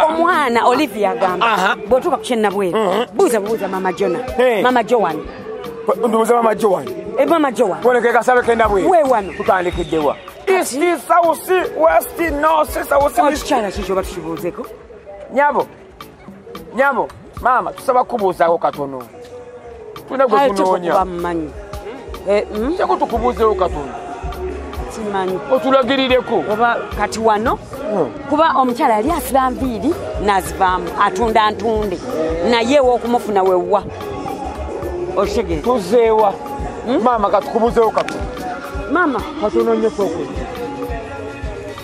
omwana olivia agamba bwotuuka kukyennabweru uh-huh. buuza bubuuza mama jona mama joan ndubuuza mama joan eh, mama joan wonekekasabe kendabweru wewano tutandikiddewa ekikyala kikyo batukibuuzeko nyabo nyabo maama tusaba kubuuzaako katono tulina gwe tunoonya eh, hmm? kyeko tukubuuzeewo katono kimanyi otulagirireko oba kati wano hmm. kuba omukyala yali asiba nviiri nazivaamu atunda ntunde naye ewokumufuna wewwa otegere tuzeewa hmm? maama katukubuzeewo katono maama katono nyo kwokulya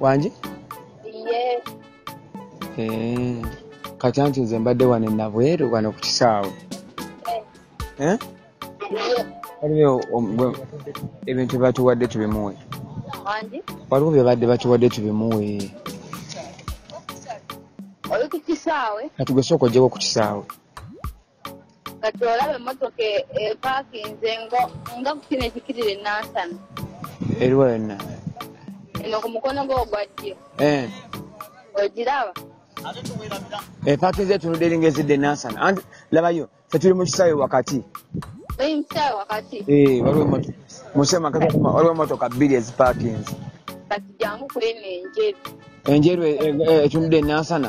wangi eh, kati anti nze mbadde wano enabweru wano ku kisaawe eh? waliwo ebintu byebatuwadde tubimuwe waliwo byebadde batuwadde tubimuwe kati gwesooka ojjeko ku kisaawe kati olaba emmotoka epakinze e, nga kukino ekikirira enansana eriwa yonna eno ku mukono gwe ogwa ddyo eh. ogiraba epakinze eh, etunudde eringa ezidde enansana anti labayo fe tuli mu kisaawe wakati eh, waliwo emotoka bbiri ezipakinze enjeru etunudde enansana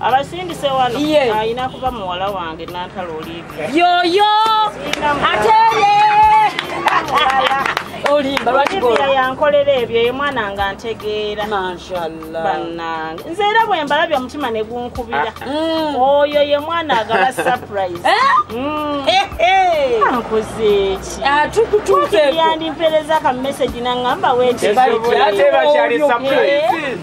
abasindise wano alina kuba muwala wange nantala oliivi yoyo ateye olimba lwakibira yankolera ebyo ye mwana nga ntegeera mashallah banange nze era bwe mbalabye omutima ne gunkubira ah, mm. oyo ye mwana agaba surprise eh? mm. eh, eh. ankozeeki ah, tukutuukeyandimpeleza ka message nangamba wekisobolaate bakyali surprise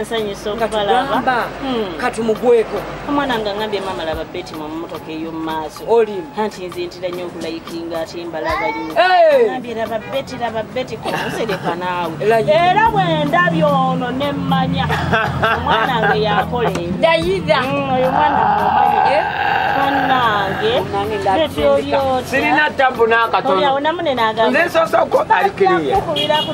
nsanyusa okubalaba hmm. katumugweko omwana nga ngambye mama laba beti mu mmotoka ey'omumaaso anti nze ntira nnyo okulayikinga ate mbalaba nnyo ngambye laba beti laba beti kumusereka naawe era bwendabye ono ne mmanya omwana nga yakola ebyoyira hmm, oyo mwana mumanya eh? banange beti olyotyasirina tabu n'akatono oyawo namunenagamba nze nsoosa okuba alikiriya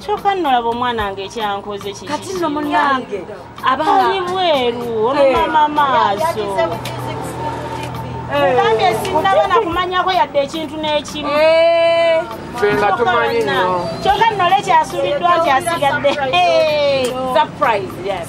kyoka nno laba omwana nge ekyankoze kikati no munange abaali bweru olumama maaso mugambye sinnaba nakumanyako yadde ekintu n'ekimu fenga tumanyi nyo kyoka nno le kyasuuliddwa nti asigadde surprise yes.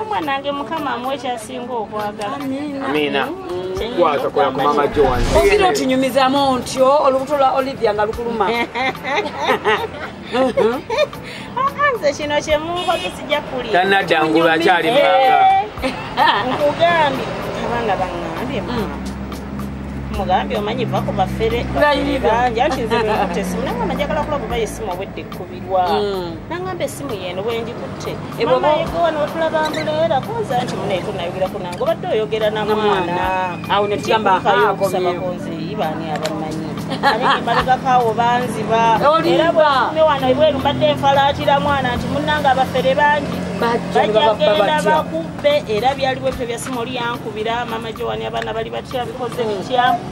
omwanange mukama amu ekyasinga okwagala amiina kwatakola ku mama joan ogira otinyumizamu ntyo olubuto lwa olivia nga lukuluma nze kino kyemunkoze sijja kuli tanadda ngulu akyali manga nkugambye abanga bangambye mugambye omanyi va ku bafere banja nti nze nkutesimulanga najagala kulaba oba yesimu obwedde ekkubirwa nangamba esimu yeno bwengikutte ebwbaegowanotulabambuleera kunza nti munaye tunayogera kunange obadde oyogera namwana awo netugambaaakonzi ibaani abamanyi aemalekakawo banziba era bweume wano ebweru mbadde enfalaatira mwana nti munange abafere bangi bajagenda bakubbe era byali bwebyo byasimu oli yankubira mama jowani abaana bali batya bikoze bitya mm.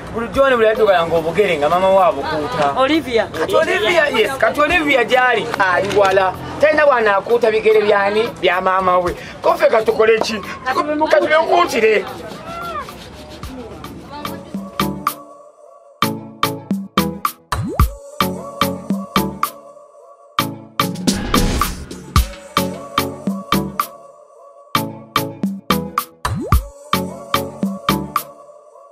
bulijjo ne buli yadugala ng'obugere nga mama we abukuuta olivia kati olivia yes kati olivia gyali ali wala talina bwanaakuuta bigere byani bya maama we kofe katukole ki kati bekuutire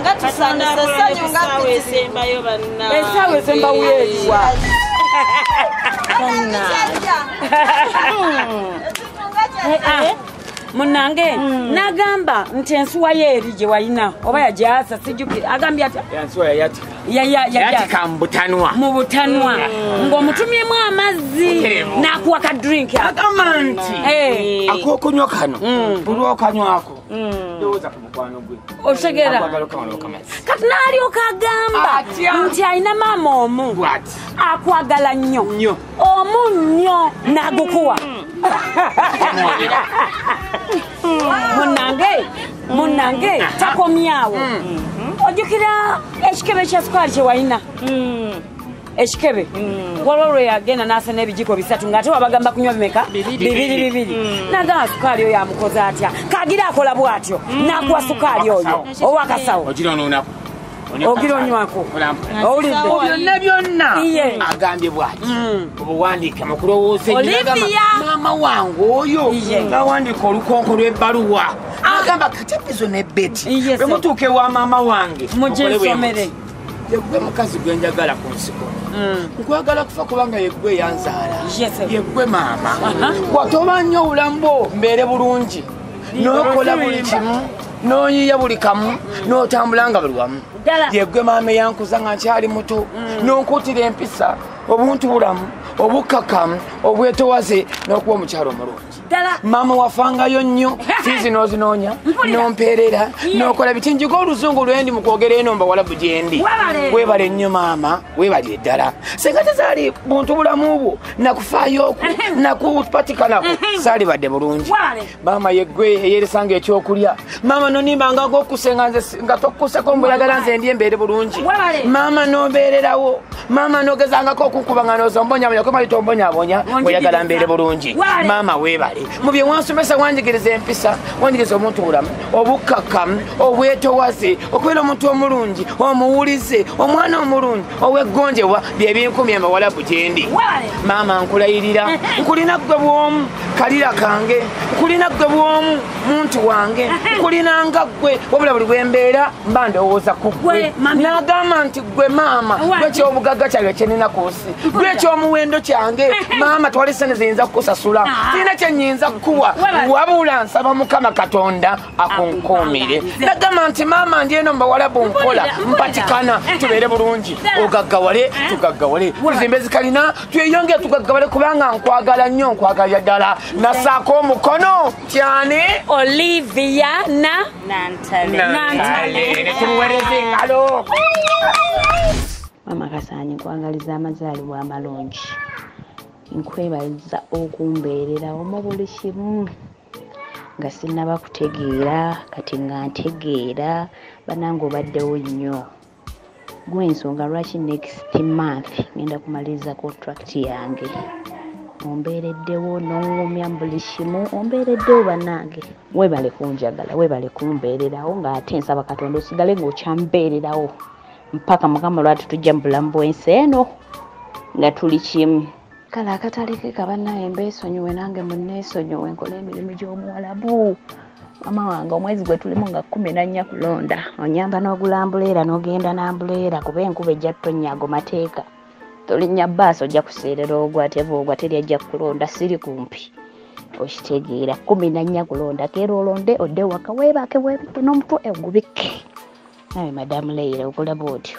nga tusanyusa essanyu nga esembayo bannasaawa esembawo eriwa munange hmm. nagamba nti ensuwa yo eri gye walina oba yagyasa sijukira agambye ati yatika mubutanwa mubutanwa mm. ng'omutumyemu amazzi n'akuwa ka drink agamba nti eh. akokunywa kano mm. buli okanywako mm. lowooza ku mukwano gwe otegera kati n'alyoka agamba nti alina maama omu akwagala nnyo omu nnyo n'agukuwa munange munange takomyawo ojukira ekikebe kya sukaali kyewalina ekikebe waliwo lwe yagenda n'asa n'ebijiko bisatu ng'ate wabagamba kunywa bimeka bibiri bibiri mm. nagamba sukaali oyo amukoze atya kagira akola bwatyo mm. n'akuwa sukaali oyo owakasawo ogira onywako owulidde byonna byonna agambye bwati mm. obuwandiike mukulowooza maama wange oyo ngawandiika olukonko lw'ebbaluwa ah. agamba katipizo ne beti bwe mutuuka ewa maama wange mujesomere yegwe mukazi gwe njagala ku nsiko mm. nkwagala kufa kubanga yegwe yanzaala yegwe maama watoba nnyo obulambo mbeere bulungi nokola buli kimu noyiya buli kamu notambula nga buli wamu yegwe maama eyankuza nga nkyali muto mm. nonkutira empisa obuntu bulamu obukkakamu obwetowaze n'okuba omukyalo omulungi maama wafangayo nnyo fiizi n'ozinoonya nompeerera nokola biti njiga oluzungu lwendi mu kwogera eno mbawalabu gyendi webale nnyo maama webalire ddala singa tezaali buntu bulamu bwo nakufaayo okwo nakupatikanako saalibadde bulungi maama yegwe eyeresanga ekyokulya maama nonimbanga gokuse nga tokuseko mboyagala nze ndi embeere bulungi maama nobeererawo maama nogezangako okukuba nga nozombonyaboyakomali tombonyabonya oyagala mbeere bulungi maama webale mu bye wansomesa wanjigiriza empisa wanjigiriza omuntu bulamu obukkakkamu obwetowaze okubeera omuntu omulungi omuwulize omwana omulungi oweggonjebwa byebinkumya mawalabu gyendi maama nkulayirira nkulina ggwe bwomu kalira kange nkulina ggwe bwomu muntu wange nkulina nga ggwe wabula buli bwembeera mba ndowooza ku ggwe nagamba nti ggwe maama gwekyobugaga kyange kyenina ku nsi gwekyomuwendo kyange maama twali sene ziyinza kukusasula ah. sirina kyenyinza kukuwa wabula nsaba mukama katonda akunkuumire nagamba nti maama ndi eno mubawalabu nkola mpatikana tubeere bulungi ogaggawale eh? tugaggawale tuzimba ezikalina tweyongere tugaggawale kubanga nkwagala nnyo nkwagalira ddala nasaako omukono tyani olivia na nantale netuwereza engalo mama kasaanyi nkwagaliza amazaalibwa amalungi nkwebaliza okumbeererawo mu buli kimu nga sinnaba kutegeera kati nga ntegeera banange obaddewo nnyo gwensonga lwaki next month ngenda kumaliriza contract yange ombeereddewo nongumya buli kimu ombeereddewo banange webale kunjagala webale kumbeererawo ng'ate nsaba katonda osigale ng'okyambeererawo mpaka mukama lwati tujja mu bulamu bwensi eno nga tuli kimu kale akatale ke kabanaye mbeesonyiwe nange muneesonyiwe nkola emirimu gy'omuwalabu mama wange omwezi gwe tulimu nga kumi nannya kulonda onyamba n'ogula mbuleera n'ogenda n'ambuleera kuba enkuba ejja ttonyago mateeka tolinnya baasi ojja kuseerera ogwa teva ogwa teri ajja kukulonda siri kumpi okitegeera kumi nannya kulonda keera olonde odde waka weebake weebike n'omutwe egubikke nawe madamu leira okulaba otyo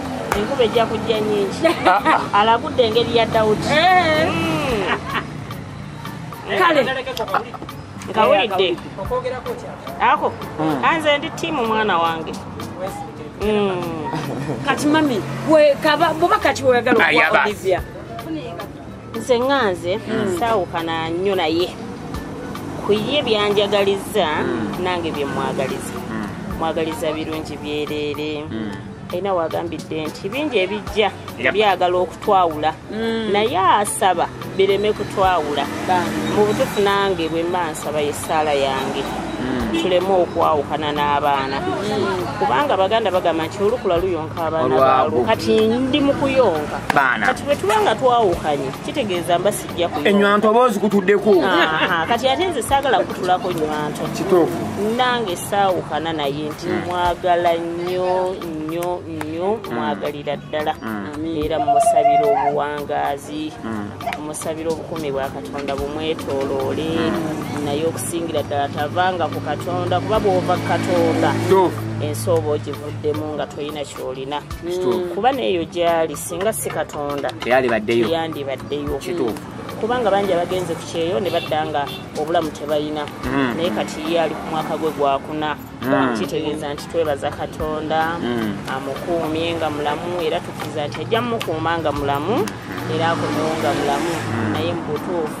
enkuba ejja kujja nyingi ah, ah. alagudde engeri ya dawudi eh. hmm. kale nkawulidde ako hmm. anze ndi tiimu mwana wange hmm. kati mami buba kati weyagala okuwa olivia nze ŋanze saawukana nnyo naye ku ye byanjagaliza nange byemwagaliza mwagaliza birungi byereere alina wagambidde nti bingi ebijja byagala okutwawula mm. naye asaba bireme kutwawula mu butufu nange bwemba nsaba yesaala yange mm. tuleme okwawukana n'abaana mm. kubanga baganda bagamba nti olukula luyonka abaana baalwo kati ndi mu kuyonka kati bwe tuba nga twawukanye kitegeeza mbasi enywanto oba ozikutuddeko kati ate nze saagala kutulako nywanto kituufu nange saawukana naye nti hmm. mwagala nnyo nnyo nnyo hmm. mwagalira ddala hmm. era mumusabira obuwangaazi mumusabira obukumi bwa katonda bumwetoloole naye okusingira ddala tavanga ku katonda kuba bwova ku katonda ensi oba ogivuddemu nga tolina kyolina kuba neeyo gyali singa si katonda teyalibaddeyo yandibaddeyo kituufu kubanga bangi abagenze ku kyeyo ne badda nga obulamu tebalina mm. naye kati ye ali ku mwaka gwe gwakuna mm. kitegeeza nti twebaza katonda mm. amukuumye nga mulamu era tukiza nti ajja mukuuma nga mulamu era akomewo nga mulamu naye mu butuufu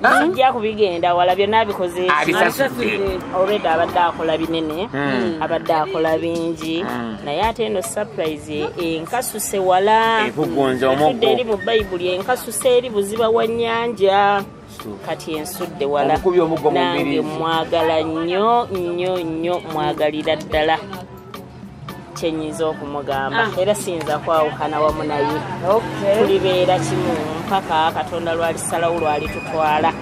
kijja ah? kubigenda wala byonna abikozeolweda abadde akola binene hmm. abadde akola bingi hmm. naye ate eno surprise enkasuse wala efudde eri mu bayibuli enkasuse eri buziba wa nyanja kati ensudde wala nange mwagala nnyo nnyo nnyo mwagalira ddala kyenyinza okumugamba ah. era siyinza kwawukana wamu naye tulibeera kimu mpaka katonda lwalisalawo lwalitutwala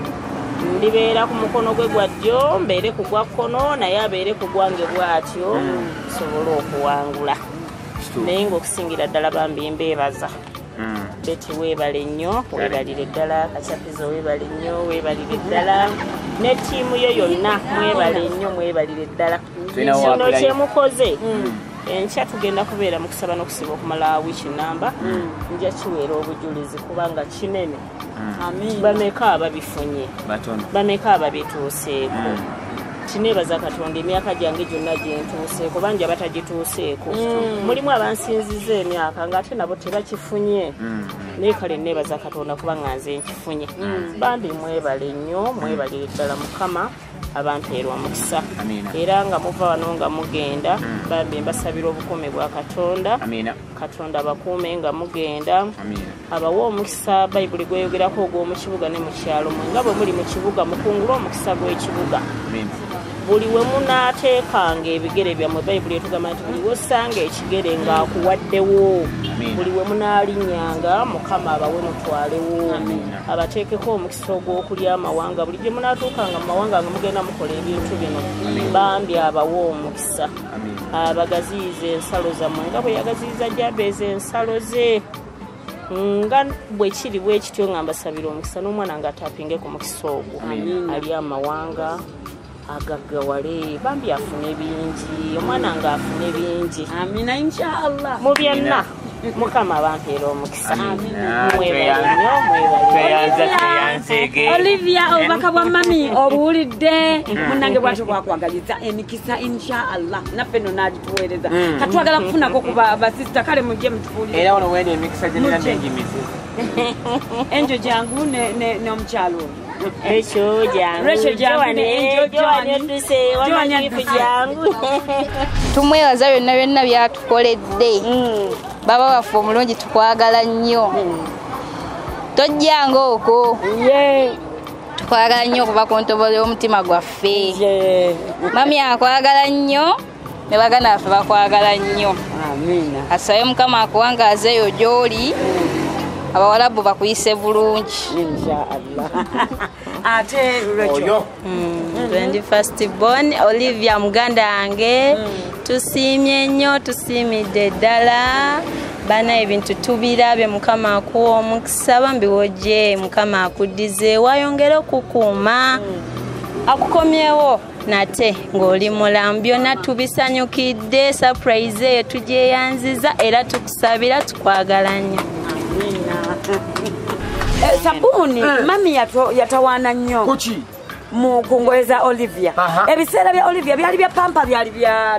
ndibeera ku mukono gwe gwa ddyo mbeere ku gwa kkono naye abeere ku gwange bwatyo hmm. tusobole okuwangula naye ngaokusingira ddala bambi mbeebaza hmm. beti weebale nnyo weebalire ddala kacapizo weebale nnyo weebalire ddala ne ttiimu yo yonna mwebale nnyo mwebalire ddala kino kyemukoze hmm. enkya tugenda kubeera mu kusaba n'okusiba okumala wiiki namba hmm. nja kiweera obujulizi kubanga kinene hmm. bameka ababifunye bameka ababituuseeko kineebaza katonda emyaka gyange gyonna gyentuuseeko bangi abatagituuseeko mulimu abansinziza emyaka ngaate nabo tebakifunye naye kale neebaza katonda kuba nga nze nkifunye bambi mwebale nnyo mwebalire ddala mukama abanteera omukisa era nga muva wano nga mugenda hmm. bambi mbasabira obukuumi bwa katonda katonda abakuume nga mugenda abawa omukisa bayibuli gweyogerako ogw'omu kibuga ne mu kyalo mwe nga bwe muli mu kibuga mukungule omukisa gw'ekibuga buli we munaateekanga ebigere byammwe bayibuli etugamba nti buli wosanga ekigere ng'akuwaddewo buli we munaalinyanga mukama abawe mutwalewo abateekeko omukisa omugaso ogw'okulya amawanga buli gye munaatuukanga mu mawanga nga mugenda mukola ebintu bino bambi abawa omukisa abagaziyiza ensalo zammwe nga bwe yagaziyiza jabeeza ensalo ze nga bwe kiri bwe kityo nga mbasabira omukisa n'omwana ng'ataapinge ku mukisa ogwo ali amawanga agaggawale bambi afune bingi omwana nga afune bingi amina inshallah mu byonna mukama bampeera omukisa olivia obubaka bwa mami obuwulidde mm. munange bwatyo bwakwagaliza emikisa inshallah naffe no nagituweereza mm. katwagala kufunako ku basista kale mujje mutufuulire enjo jangu n'omukyalo Rachel jangu. Rachel jangu Joan, ne eh, Angel Joan Joan. odduse Joan wama gifu adduse. jangu. tumwebaza byonna byonna byatukoledde baba waffe omulungi tukwagala nnyo tojjanga okwo Ye. tukwagala nnyo okuva ku ntobo y'omutima gwaffe Ye. mami akwagala nnyo ne baganda baffe bakwagala nnyo asabe mukama akuwangaaza eyo gy'oli abawalabu bakuyise bulungi ate lwekyo 21st hmm, bon olivia muganda wange hmm. tusiimye nnyo tusiimidde ddala bana ebintu tubirabye mukama akuwa omukisa bambi wojje mukama akuddize wayongere okukuuma akukomyewo nate ng'oli mulamu byonna tubisanyukidde surprise eyo tugyeyanziza era tukusabira tukwagala nnyo eh, sabuuni eh. mami yatawaana nnyo ku ngoye za olivia ebiseera bya olivia byali bya pampa byali bya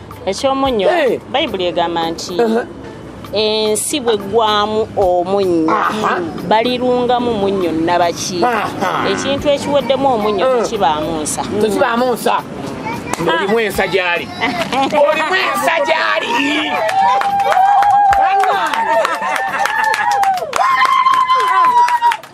ekyomunnyo eh. bayibuli egamba nti ensi bwe ggwamu omunnyo balirungamu munnyo nabaki ekintu ekiweddemu omunnyo eh. tekibaamu nsa tekibaamu nsa olimu ensa gyali olimu ensa gyali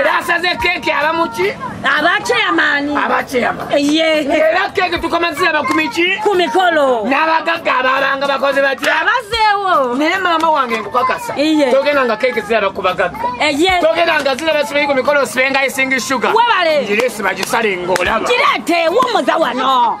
era asaze keeki abamuki abakyeyamaani abakyeyamaani era keeki tukomazira bakumiki ku mikolo n'abagagga abalanga bakoze batya abazeewo naye maama wange nkukakasa togenda nga keeki ziraba ku bagagga togenda nga ziraba sibayi ku mikolo sibenga isingi shuga webale ngireesi bagisale ng'olaba kireete wumuza wano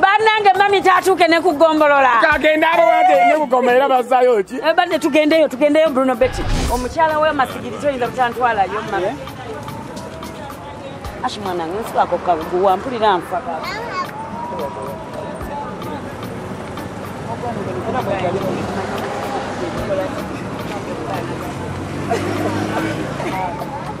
banange mami tatuuke ne kugombolola kagenda abawade ne kugoma era bazayo ki eh, bade tugendeyo tugendeyo bruno beti omukyala we masigiri toyinza butantwalayo mami eh? ashi mwanange nsiwako kaguwa mpulira nfa Thank you.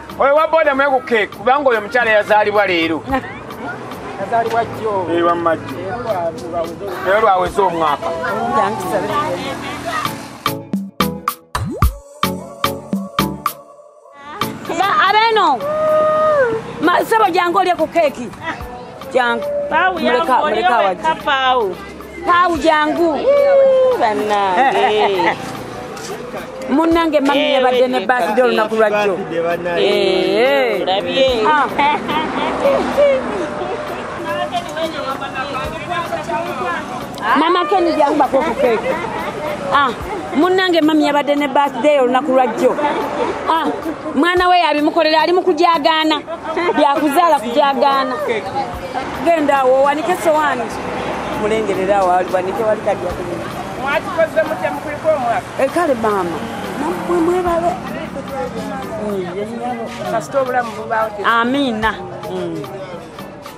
oyo wa boda mwekuke kubanga oyo omukyala yazaalibwa leero eyo lwaweza omwaka abeno masebo jange olye ku keeki jangu muleka muleka waje pau jangu banange munange mami yabadde ne birthday olunaku lwajjo mama keni jangubako okukeeka ah, munnange mami yabadde ne birthday olunaku lwajjo ah, mwana we yabimukolera ali mukugyagaana byakuzaala kugyagaana genda awo owanike sowaani mulengerera awo aliwanike wali kalyakulina mwakikoze mutya mukulika omwaka eh, kale maama namwe mwebale kasita obulamu bubaawo amiina mm.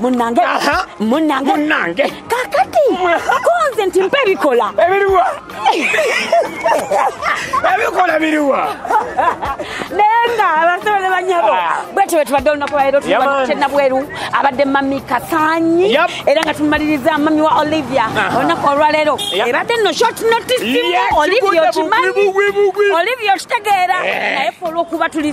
munange munange munange kakati konze nti mpa ebikola ebiriwa ebikola biriwa naye nga abasolo ne banyabo ah. bwetyo bwetubadde olunaku lwaleero tulina bweru abadde mami kasanyi era nga tumumaliriza mami wa olivia olunaku olwaleero ebadde no short notice olivia okimanyi olivia okitegeera eh. naye fe olwokuba tuli